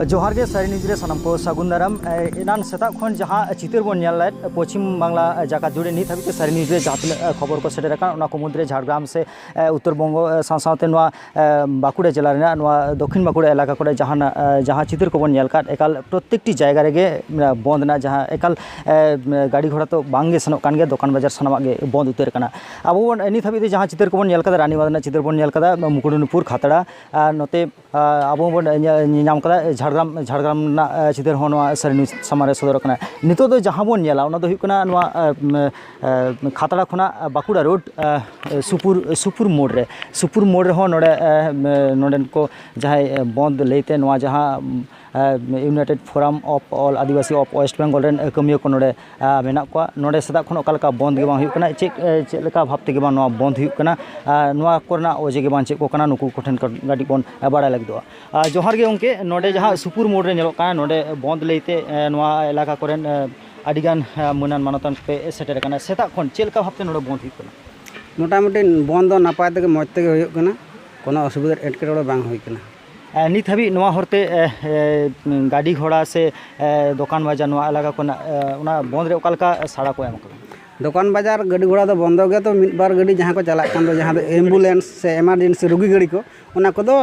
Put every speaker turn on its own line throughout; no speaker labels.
ᱡᱚᱦᱟᱨ ᱜᱮ ᱥᱟᱨᱤ ᱱᱤᱡᱽ ᱨᱮ ᱥᱟᱱᱟᱢ ᱠᱚ ᱥᱟᱹᱜᱩᱱ ᱫᱟᱨᱟᱢ ᱮᱱᱟᱱ ᱥᱮᱛᱟᱜ ᱠᱷᱚᱱ ᱡᱟᱦᱟᱸ ᱪᱤᱛᱟᱹᱨ ᱵᱚᱱ ᱧᱮᱞ ᱞᱮᱫ ᱯᱚᱪᱷᱤᱢ ᱵᱟᱝᱞᱟ ᱡᱟᱠᱟᱛ ᱡᱩᱲᱮ ᱱᱤᱛ ᱦᱟᱹᱵᱤᱡ ᱛᱮ ᱥᱟᱨᱤ ᱱᱤᱡᱽ ᱨᱮ ᱡᱟᱦᱟᱸ ᱛᱤᱱᱟᱹᱜ ᱠᱷᱚᱵᱚᱨ ᱠᱚ ᱥᱮᱴᱮᱨ ᱟᱠᱟᱱ ᱚᱱᱟ ᱠᱚ ᱢᱩᱫᱽᱨᱮ ᱡᱷᱟᱲᱜᱨᱟᱢ ᱥᱮ ᱩᱛᱛᱚᱨ ᱵᱚᱝᱜᱚ ᱥᱟᱶ ᱥᱟᱶᱛᱮ ᱱᱚᱣᱟ ᱵᱟᱸᱠᱩᱲᱟ ᱡᱮᱞᱟ ᱨᱮᱱᱟᱜ ᱱᱚᱣᱟ ᱫᱚᱠᱠᱷᱤᱱ ᱵᱟᱸᱠᱩᱲᱟ ᱮᱞᱟᱠᱟ ᱠᱚᱨᱮ ᱡᱟᱦᱟᱱᱟᱜ ᱡᱟᱦᱟᱸ ᱪᱤᱛᱟᱹᱨ ᱠᱚᱵᱚᱱ ᱧᱮᱞ ᱟᱠᱟᱫ ᱮᱠᱟᱞ ᱯᱨᱚᱛᱮᱠᱴᱤ ᱡᱟᱭᱜᱟ ᱨᱮᱜᱮ ᱵᱚᱱᱫᱷ ᱨᱮᱱᱟᱜ ᱡᱟᱦᱟᱸ ᱮᱠᱟᱞ ᱜᱟᱹᱰᱤ ᱜᱷᱚᱲᱟ ᱛᱚ ᱵᱟᱝᱜᱮ ᱥᱮᱱᱚᱜ ᱠᱟᱱ ᱜᱮᱭᱟ ᱫᱚᱠᱟᱱ ᱵᱟᱡᱟᱨ ᱥᱟᱱᱟᱢᱟᱜ ᱜᱮ ᱵᱚᱱᱫᱷ ᱩᱛᱟᱹᱨ ᱟᱠᱟᱱᱟ ᱟᱵᱚ ᱵᱚᱱ ᱱᱤᱛ ᱦᱟᱹᱵᱤᱡ ᱛᱮ ᱡᱟᱦᱟᱸ ᱪᱤᱛᱟᱹᱨ ᱠᱚᱵᱚᱱ ᱧᱮᱞ ᱟᱠᱟᱫᱟ ᱨᱟᱱᱤᱵᱟᱸᱫᱷ ᱨᱮᱱᱟᱜ ᱪᱤᱛᱟᱹᱨ ᱵᱚᱱ ᱧᱮᱞ ᱟᱠᱟᱫᱟ ᱢᱩᱠᱩᱴᱢᱚᱱᱤᱯᱩᱨ ᱠᱷᱟᱛᱲᱟ ᱟᱨ ᱱᱚᱛᱮ ᱟᱵᱚ ᱵᱚᱱ ᱧᱮᱞᱧᱟᱢ ᱟᱠᱟᱫᱟ ᱡᱷᱟᱲᱜᱨᱟᱢ ᱡᱷᱟᱲᱜᱨᱟᱢ ᱨᱮᱱᱟᱜ ᱪᱤᱛᱟᱹᱨ ᱦᱚᱸ ᱱᱚᱣᱟ ᱥᱟᱹᱨᱤ ᱱᱤᱭᱩᱡᱽ ᱥᱟᱢᱟᱝ ᱨᱮ ᱥᱚᱫᱚᱨ ᱟᱠᱟᱱᱟ ᱱᱤᱛᱚᱜ ᱫᱚ ᱡᱟᱦᱟᱸ ᱵᱚᱱ ᱧᱮᱞᱟ ᱚᱱᱟ ᱫᱚ ᱦᱩᱭᱩᱜ ᱠᱟᱱᱟ ᱱᱚᱣᱟ ᱠᱷᱟᱛᱲᱟ ᱠᱷᱚᱱᱟᱜ ᱵᱟᱸᱠᱩᱲᱟ ᱨᱳᱰ ᱥᱩᱯᱩᱨ ᱥᱩᱯᱩᱨ ᱢᱳᱲ ᱨᱮ ᱥᱩᱯᱩᱨ ᱢᱳᱲ ᱨᱮᱦᱚᱸ ᱱᱚᱰᱮ ᱱᱚᱰᱮᱱ ᱠᱚ ᱡᱟᱦᱟᱸᱭ ᱵᱚᱱᱫᱷ ᱞᱟᱹᱭᱛᱮ ᱱᱚᱣᱟ ᱡᱟᱦᱟᱸ united forum of all Adivasi of west Bengal ᱨᱮᱱ ᱠᱟᱹᱢᱭᱟᱹ ᱠᱚ ᱱᱚᱰᱮ ᱢᱮᱱᱟᱜ ᱠᱚᱣᱟ ᱱᱚᱰᱮ ᱥᱮᱛᱟᱜ ᱠᱷᱚᱱ ᱚᱠᱟ ᱞᱮᱠᱟ ᱵᱚᱱᱫᱷ ᱜᱮᱵᱟᱝ ᱦᱩᱭᱩᱜ ᱠᱟᱱᱟ ᱪᱮᱫ ᱪᱮᱫ ᱞᱮᱠᱟ ᱵᱷᱟᱵᱽ ᱛᱮᱜᱮ ᱵᱟᱝ ᱱᱚᱣᱟ ᱵᱚᱱᱫᱷ ᱦᱩᱭᱩᱜ ᱠᱟᱱᱟ ᱟᱨ ᱱᱚᱣᱟ ᱠᱚᱨᱮᱱᱟᱜ ᱚᱡᱮ ᱜᱮ ᱵᱟᱝ ᱪᱮᱫ ᱠᱚ ᱠᱟᱱᱟ ᱱᱩᱠᱩ ᱠᱚᱴᱷᱮᱱ ᱠᱟᱹᱴᱤᱡ ᱵᱚᱱ ᱵᱟᱲᱟᱭ ᱞᱟᱹᱜᱤᱫᱚᱜᱼᱟ ᱟᱨ ᱡᱚᱦᱟᱨ ᱜᱮ ᱜᱚᱢᱠᱮ ᱱᱚᱰᱮ ᱡᱟᱦᱟᱸ ᱥᱩᱯᱩᱨ ᱢᱳᱲ ᱨᱮ ᱧᱮᱞᱚᱜ ᱠᱟᱱᱟ ᱱᱚᱰᱮ ᱵᱚᱱᱫᱷ ᱞᱟᱹᱭᱛᱮ ᱱᱚᱣᱟ ᱮᱞᱟᱠᱟ ᱠᱚᱨᱮᱱ ᱟᱹᱰᱤ ᱜᱟᱱ ᱢᱟᱹᱱᱟᱱ ᱢᱟᱱᱚᱛᱟᱱ ᱯᱮ ᱥᱮᱴᱮᱨ ᱟᱠᱟᱱᱟ ᱥᱮᱛᱟᱜ ᱠᱷᱚᱱ ᱪᱮᱫ ᱞᱮᱠᱟ ᱵᱷᱟᱵᱛᱮ ᱱᱚᱰᱮ ᱵᱚᱸᱫᱽ ᱦᱩᱭᱩᱜ ᱠᱟᱱᱟ ᱢᱚᱴᱟᱢᱩᱴᱤ
ᱵᱚᱸᱫᱽ ᱫᱚ ᱱᱟᱯᱟᱭ ᱛᱮᱜᱮ ᱢᱚᱡᱽ ᱛᱮᱜᱮ ᱦᱩᱭᱩᱜ ᱠᱟᱱᱟ ᱠᱳᱱᱳ ᱚᱥᱩᱵᱤᱫᱷᱟ ᱮᱴᱠᱮᱴᱚᱬᱮ ᱵᱟᱝ ᱦᱩᱭ ᱠᱟᱱᱟ ᱱᱤᱛ ᱦᱟᱹᱵᱤᱡ
ᱱᱚᱣᱟ ᱦᱚᱨᱛᱮ ᱜᱟᱹᱰᱤ ᱜᱷᱚᱲᱟ ᱥᱮ ᱫᱚᱠᱟᱱ ᱵᱟᱡᱟᱨ ᱱᱚᱣᱟ ᱮᱞᱟᱠᱟ ᱠᱚᱨᱮᱱᱟᱜ ᱚᱱᱟ ᱵᱚᱸᱫᱽ ᱨᱮ ᱚᱠᱟ ᱞᱮᱠᱟ ᱥᱟᱲᱟ ᱠᱚ ᱮᱢ ᱠᱟᱱᱟ ᱫᱚᱠᱟᱱ ᱵᱟᱡᱟᱨ
ᱜᱟᱹᱰᱤ ᱜᱷᱚᱲᱟ ᱫᱚ ᱵᱚᱱᱫᱚ ᱜᱮᱭᱟ ᱛᱚ ᱢᱤᱫ ᱵᱟᱨ ᱜᱟᱹᱰᱤ ᱡᱟᱦᱟᱸ ᱠᱚ ᱪᱟᱞᱟᱜ ᱠᱟᱱ ᱫᱚ ᱡᱟᱦᱟᱸ ᱫᱚ ᱮᱢᱵᱩᱞᱮᱱᱥ ᱥᱮ ᱮᱢᱟᱨᱡᱮᱱᱥᱤ ᱨᱩᱜᱤ ᱜᱟᱹᱰᱤ ᱠᱚ ᱚᱱᱟ ᱠᱚᱫᱚ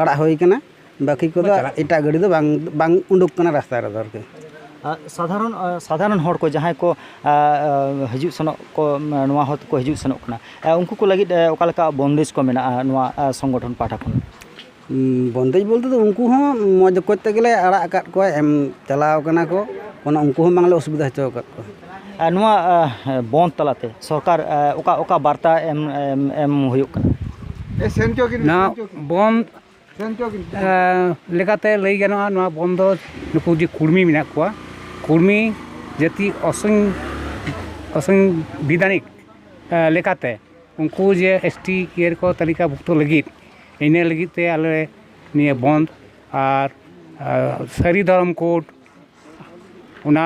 ᱟᱲᱟᱜ ᱦᱩᱭ ᱠᱟᱱᱟ ᱵᱟᱹᱠᱤ ᱠᱚᱫᱚ ᱮᱴᱟᱜ ᱜᱟᱹᱰᱤ ᱫᱚ ᱵᱟᱝ ᱵᱟᱝ ᱩᱰᱩᱠ ᱠᱟᱱᱟ ᱨᱟᱥᱛᱟ ᱨᱮᱫᱚ ᱟᱨᱠᱤ ᱥᱟᱫᱷᱟᱨᱚᱱ
ᱥᱟᱫᱷᱟᱨᱚᱱ ᱦᱚᱲ ᱠᱚ ᱡᱟᱦᱟᱸᱭ ᱠᱚ ᱦᱤᱡᱩᱜ ᱥᱮᱱᱚᱜ ᱠᱚ ᱱᱚᱣᱟ ᱦᱚᱨ ᱛᱮᱠᱚ ᱦᱤᱡᱩᱜ ᱥᱮᱱᱚᱜ ᱠᱟᱱᱟ ᱩᱱᱠᱩ ᱠᱚ ᱞᱟᱹᱜᱤᱫ ᱚᱠᱟ ᱞᱮᱠᱟ ᱵᱚᱱᱫᱮᱡᱽ ᱠᱚ ᱢᱮᱱᱟᱜᱼᱟ ᱱᱚᱣᱟ ᱥᱚᱝᱜᱚᱴᱷᱚᱱ ᱯᱟᱦᱴᱟ ᱠᱷᱚᱱ ᱵᱚᱱᱫᱮᱡᱽ
ᱵᱚᱞᱛᱮ ᱫᱚ ᱩᱱᱠᱩ ᱦᱚᱸ ᱢᱚᱡᱽ ᱚᱠᱚᱡ ᱛᱮᱜᱮ ᱞᱮ ᱟᱲᱟᱜ ᱟᱠᱟᱫ ᱠᱚᱣᱟ ᱮᱢ ᱪᱟᱞᱟᱣ ᱠᱟᱱᱟ ᱠᱚ ᱚᱱᱟ ᱩᱱᱠᱩ ᱦᱚᱸ ᱵᱟᱝᱞᱮ ᱚᱥᱩᱵᱤᱫᱷᱟ ᱦᱚᱪᱚ ᱟᱠᱟᱫ ᱠᱚᱣᱟ ᱟᱨ ᱱᱚᱣᱟ
ᱵᱚᱱᱫᱷ ᱛᱟᱞᱟᱛᱮ ᱥᱚᱨᱠᱟᱨ ᱚᱠᱟ ᱚᱠᱟ ᱵᱟᱨᱛᱟ ᱮᱢ ᱮᱢ ᱦᱩᱭᱩᱜ ᱠᱟᱱᱟ ᱱᱚᱣᱟ
ᱵᱚᱱᱫᱷ ᱞᱮᱠᱟᱛᱮ ᱞᱟᱹᱭ ᱜᱟᱱᱚᱜᱼᱟ ᱱᱚᱣᱟ ᱵᱚᱱ ᱫᱚ ᱱᱩᱠᱩ ᱡᱮ ᱠᱩᱲᱢᱤ ᱢᱮᱱᱟᱜ ᱠᱚᱣᱟ ᱠᱩᱲᱢᱤ ᱡᱟᱹᱛᱤ ᱚᱥᱚᱝ ᱚᱥᱚᱝ ᱵᱤᱫᱷᱟᱱᱤᱠ ᱞᱮᱠᱟᱛᱮ ᱩᱱᱠᱩ ᱡᱮ ᱮᱥ ᱴᱤ ᱤᱭᱟᱹ ᱨᱮᱠᱚ ᱛᱟᱹᱞᱤᱠᱟ ᱵᱷᱩᱠᱛᱚ ᱞᱟᱹᱜᱤᱫ ᱤᱱᱟᱹ ᱞᱟᱹᱜᱤᱫ ᱛᱮ ᱟᱞᱮ ᱱᱤᱭᱟᱹ ᱵᱚᱱᱫᱷ ᱟᱨ ᱥᱟᱹᱨᱤ ᱫᱷᱚᱨᱚᱢ ᱠᱳᱰ ᱚᱱᱟ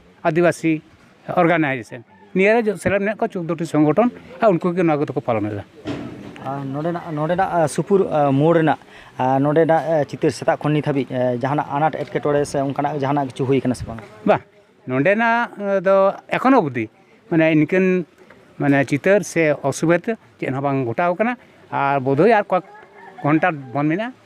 ᱟᱹᱫᱤᱵᱟᱹᱥᱤ ᱚᱨᱜᱟᱱᱟᱭᱡᱮᱥᱚᱱ ᱱᱤᱭᱟᱹ ᱨᱮ ᱥᱮᱞᱮᱫ ᱢᱮᱱᱟᱜ ᱠᱚᱣᱟ ᱪᱳᱫᱽᱫᱳᱴᱤ ᱥᱚᱝᱜᱚᱴᱷᱚᱱ ᱟᱨ ᱩᱱᱠᱩ ᱜᱮ ᱱᱚᱣᱟ ᱠᱚᱫᱚ ᱠᱚ ᱯᱟᱞᱚᱱ ᱮᱫᱟ ᱟᱨ ᱱᱚᱰᱮᱱᱟᱜ ᱱᱚᱰᱮᱱᱟᱜ
ᱥᱩᱯᱩᱨ ᱢᱳᱲ ᱨᱮᱱᱟᱜ ᱱᱚᱰᱮᱱᱟᱜ ᱪᱤᱛᱟᱹᱨ ᱥᱮᱛᱟᱜ ᱠᱷᱚᱱ ᱱᱤᱛ ᱦᱟᱹᱵᱤᱡ ᱡᱟᱦᱟᱱᱟᱜ ᱟᱱᱟᱴ ᱮᱴᱠᱮᱴᱚᱬᱮ ᱥᱮ ᱚᱱᱠᱟᱱᱟᱜ ᱡᱟᱦᱟᱱᱟᱜ ᱠᱤᱪᱷᱩ ᱦᱩᱭ ᱠᱟᱱᱟ ᱥᱮ ᱵᱟᱝ ᱵᱟᱝ ᱱᱚᱰᱮᱱᱟᱜ
ᱫᱚ ᱮᱠᱷᱚᱱ ᱚᱵᱫᱤ ᱢᱟᱱᱮ ᱤᱱᱠᱟᱹᱱ ᱢᱟᱱᱮ ᱪᱤᱛᱟᱹᱨ ᱥᱮ ᱚᱥᱩᱵᱤᱫᱷᱟ ᱪᱮᱫ ᱦᱚᱸ ᱵᱟᱝ ᱜᱷᱚᱴᱟᱣ ᱠᱟᱱᱟ ᱟᱨ ᱵᱳᱫᱷᱳᱭ ᱟᱨ ᱠᱚᱭᱮᱠ ᱜᱷᱚᱱᱴᱟ ᱵᱚᱱᱫᱽ ᱢᱮᱱᱟᱜᱼᱟ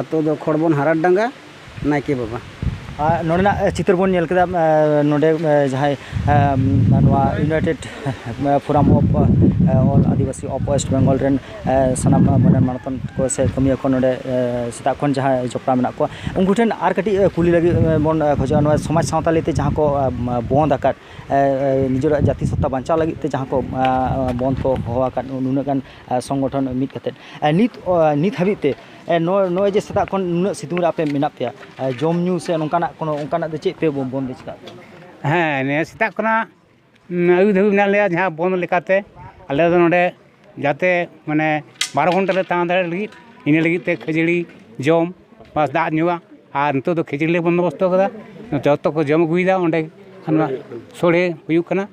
ᱟᱛᱳ ᱫᱚ ᱠᱷᱚᱲᱵᱚᱱ ᱦᱟᱨᱟᱴ ᱰᱟᱸᱜᱟ ᱱᱟᱭᱠᱮ ᱵᱟᱵᱟ ᱱᱚᱰᱮᱱᱟᱜ
ᱪᱤᱛᱟᱹᱨ ᱵᱚᱱ ᱧᱮᱞ ᱠᱮᱫᱟ ᱱᱚᱰᱮ ᱡᱟᱦᱟᱸᱭ ᱱᱚᱣᱟ united forum of all Adivasi of west Bengal ᱨᱮᱱ ᱥᱟᱱᱟᱢ ᱢᱟᱱᱮ ᱢᱟᱱᱚᱛᱟᱱ ᱠᱚ ᱥᱮ ᱠᱟᱹᱢᱤᱭᱟᱹ ᱠᱚ ᱱᱚᱰᱮ ᱥᱮᱛᱟᱜ ᱠᱷᱚᱱ ᱡᱟᱦᱟᱸᱭ ᱡᱚᱯᱲᱟᱣ ᱢᱮᱱᱟᱜ ᱠᱚᱣᱟ ᱩᱱᱠᱩ ᱴᱷᱮᱱ ᱟᱨ ᱠᱟᱹᱴᱤᱡ ᱠᱩᱞᱤ ᱞᱟᱹᱜᱤᱫ ᱵᱚᱱ ᱠᱷᱚᱡᱚᱜᱼᱟ ᱱᱚᱣᱟ ᱥᱚᱢᱟᱡᱽ ᱥᱟᱶᱛᱟ ᱞᱟᱹᱭᱛᱮ ᱡᱟᱦᱟᱸ ᱠᱚ ᱵᱚᱸᱫᱽ ᱟᱠᱟᱫ ᱱᱤᱡᱮᱨᱟᱜ ᱡᱟᱹᱛᱤ ᱥᱟᱶᱛᱟ ᱵᱟᱧᱪᱟᱣ ᱞᱟᱹᱜᱤᱫ ᱛᱮ ᱡᱟᱦᱟᱸ ᱠᱚ ᱵᱚᱸᱫᱽ ᱠᱚ ᱦᱚᱦᱚ ᱟᱠᱟᱫ ᱱᱩᱱᱟᱹᱜ ᱜᱟᱱ ᱥᱚᱝᱜᱚᱴᱷᱚᱱ ᱢᱤᱫ ᱠᱟᱛᱮᱫ ᱱᱤᱛ ᱱᱤᱛ ᱦᱟᱹᱵᱤᱡ ᱛᱮ ᱱᱚᱜᱼᱚᱭ ᱡᱮ ᱥᱮᱛᱟᱜ ᱠᱷᱚᱱ ᱱᱩᱱᱟᱹᱜ ᱥᱤᱛᱩᱝ ᱨᱮ ᱟᱯᱮ ᱢᱮᱱᱟᱜ ᱯᱮᱭᱟ ᱡᱚᱢ ᱧᱩ ᱥᱮ ᱱᱚᱝᱠᱟᱱᱟᱜ ᱠᱚᱱᱚ ᱚᱱᱠᱟᱱᱟᱜ ᱫᱚ ᱪᱮᱫ ᱯᱮ ᱵᱚᱱᱫᱮᱡᱽ ᱠᱟᱜ ᱯᱮᱭᱟ ᱦᱮᱸ ᱱᱤᱭᱟᱹ
ᱥᱮᱛᱟᱜ ᱠᱷᱚᱱᱟᱜ ᱟᱹᱭᱩᱵ ᱫᱷᱟᱹᱵᱤᱡ ᱢᱮᱱᱟᱜ ᱞᱮᱭᱟ ᱡᱟᱦᱟᱸ ᱵᱚᱱᱫᱷ ᱞᱮᱠᱟᱛᱮ ᱟᱞᱮ ᱫᱚ ᱱᱚᱰᱮ ᱡᱟᱛᱮ ᱢᱟᱱᱮ ᱵᱟᱨᱚ ᱜᱷᱚᱱᱴᱟ ᱞᱮ ᱛᱟᱦᱮᱸ ᱫᱟᱲᱮᱭᱟᱜ ᱞᱟᱹᱜᱤᱫ ᱤᱱᱟᱹ ᱞᱟᱹᱜᱤᱫ ᱛᱮ ᱠᱷᱟᱹᱡᱟᱹᱲᱤ ᱡᱚᱢ ᱵᱟ ᱫᱟᱜ ᱧᱩᱣᱟᱜ ᱟᱨ ᱱᱤᱛᱚᱜ ᱫᱚ ᱠᱷᱟᱹᱡᱟᱹᱲᱤ ᱞᱮ ᱵᱚᱱᱫᱳᱵᱚᱥᱛᱚ ᱠᱟᱫᱟ ᱡᱚᱛᱚ ᱠᱚ ᱡᱚᱢ ᱟᱹᱜᱩᱭᱮᱫᱟ ᱚᱸᱰᱮ ᱥᱚᱲᱮ ᱦᱩᱭᱩᱜ ᱠᱟᱱᱟ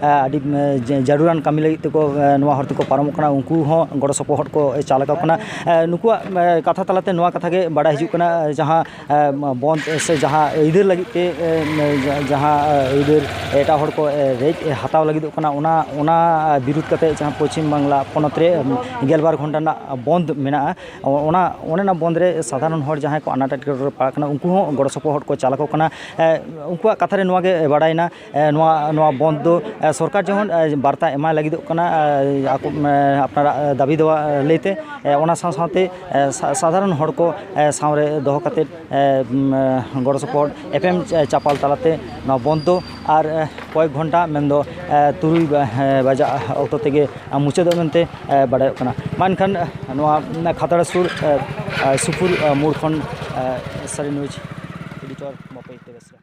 ᱟᱹᱰᱤ ᱡᱟᱹᱨᱩᱲᱟᱱ ᱠᱟᱹᱢᱤ ᱞᱟᱹᱜᱤᱫ ᱛᱮᱠᱚ ᱱᱚᱣᱟ ᱦᱚᱨ ᱛᱮᱠᱚ ᱯᱟᱨᱚᱢᱚᱜ ᱠᱟᱱᱟ ᱩᱱᱠᱩ ᱦᱚᱸ ᱜᱚᱲᱚ ᱥᱚᱯᱚᱦᱚᱫ ᱠᱚ ᱪᱟᱞ ᱟᱠᱚ ᱠᱟᱱᱟ ᱱᱩᱠᱩᱣᱟᱜ ᱠᱟᱛᱷᱟ ᱛᱟᱞᱟᱛᱮ ᱱᱚᱣᱟ ᱠᱟᱛᱷᱟᱜᱮ ᱵᱟᱲᱟᱭ ᱦᱤᱡᱩᱜ ᱠᱟᱱᱟ ᱡᱟᱦᱟᱸ ᱵᱚᱱᱫ ᱥᱮ ᱡᱟᱦᱟᱸ ᱟᱹᱭᱫᱟᱹᱨ ᱞᱟᱹᱜᱤᱫ ᱛᱮ ᱡᱟᱦᱟᱸ ᱟᱹᱭᱫᱟᱹᱨ ᱮᱴᱟᱜ ᱦᱚᱲ ᱠᱚ ᱨᱮᱡ ᱦᱟᱛᱟᱣ ᱞᱟᱹᱜᱤᱫᱚᱜ ᱠᱟᱱᱟ ᱚᱱᱟ ᱚᱱᱟ ᱵᱤᱨᱩᱫᱷ ᱠᱟᱛᱮᱫ ᱡᱟᱦᱟᱸ ᱯᱚᱪᱷᱤᱢ ᱵᱟᱝᱞᱟ ᱯᱚᱱᱚᱛ ᱨᱮ ᱜᱮᱞᱵᱟᱨ ᱜᱷᱚᱱᱴᱟ ᱨᱮᱱᱟᱜ ᱵᱚᱱᱫ ᱢᱮᱱᱟᱜᱼᱟ ᱚᱱᱟ ᱚᱱᱮ ᱚᱱᱟ ᱵᱚᱱᱫ ᱨᱮ ᱥᱟᱫᱷᱟᱨᱚᱱ ᱦᱚᱲ ᱡᱟᱦᱟᱸᱭ ᱠᱚ ᱟᱱᱟᱴ ᱮᱴᱠᱮᱴᱚᱬᱮ ᱨᱮᱠᱚ ᱯᱟᱲᱟᱜ ᱠᱟᱱᱟ ᱩᱱᱠᱩ ᱦᱚᱸ ᱜᱚᱲᱚ ᱥᱚᱯᱚᱦᱚᱫ ᱠᱚ ᱪᱟᱞ ᱟᱠᱚ ᱠᱟᱱᱟ ᱩᱱᱠᱩᱣᱟᱜ ᱠᱟᱛᱷᱟ ᱨᱮ ᱱᱚᱣᱟᱜᱮ ᱵᱟᱲᱟᱭᱮᱱᱟ ᱱᱚᱣᱟ ᱱᱚᱣᱟ ᱵᱚᱱᱫᱷ ᱫᱚ ᱥᱚᱨᱠᱟᱨ ᱡᱮᱢᱚᱱ ᱵᱟᱨᱛᱟ ᱮᱢᱟᱭ ᱞᱟᱹᱜᱤᱫᱚᱜ ᱠᱟᱱᱟ ᱟᱠᱚ ᱟᱯᱱᱟᱨᱟᱜ ᱫᱟᱹᱵᱤ ᱫᱚ ᱞᱟᱹᱭᱛᱮ ᱚᱱᱟ ᱥᱟᱶ ᱥᱟᱶᱛᱮ ᱥᱟᱫᱷᱟᱨᱚᱱ ᱦᱚᱲ ᱠᱚ ᱥᱟᱶᱨᱮ ᱫᱚᱦᱚ ᱠᱟᱛᱮᱫ ᱜᱚᱲᱚ ᱥᱚᱯᱚᱦᱚᱫ ᱮᱯᱮᱢ ᱪᱟᱯᱟᱞ ᱛᱟᱞᱟᱛᱮ ᱱᱚᱣᱟ ᱵᱚᱱᱫᱷ ᱫᱚ ᱟᱨ ᱠᱚᱭᱮᱠ ᱜᱷᱚᱱᱴᱟ ᱢᱮᱱᱫᱚ ᱛᱩᱨᱩᱭ ᱵᱟᱡᱟᱜ ᱚᱠᱛᱚ ᱛᱮᱜᱮ ᱢᱩᱪᱟᱹᱫᱚᱜ ᱢᱮᱱᱛᱮ ᱵᱟᱰᱟᱭᱚᱜ ᱠᱟᱱᱟ ᱢᱟ ᱮᱱᱠᱷᱟᱱ ᱱᱚᱣᱟ ᱠᱷᱟᱛᱲᱟ ᱥᱩᱨ ᱥᱩᱯᱩᱨ ᱢᱳᱲ ᱠᱷᱚᱱ ᱥᱟᱹᱨᱤ ᱱᱤᱭᱩᱡᱽ ᱮᱰᱤᱴᱚᱨ ᱵᱟᱯᱤ ᱵᱮᱥᱨᱟ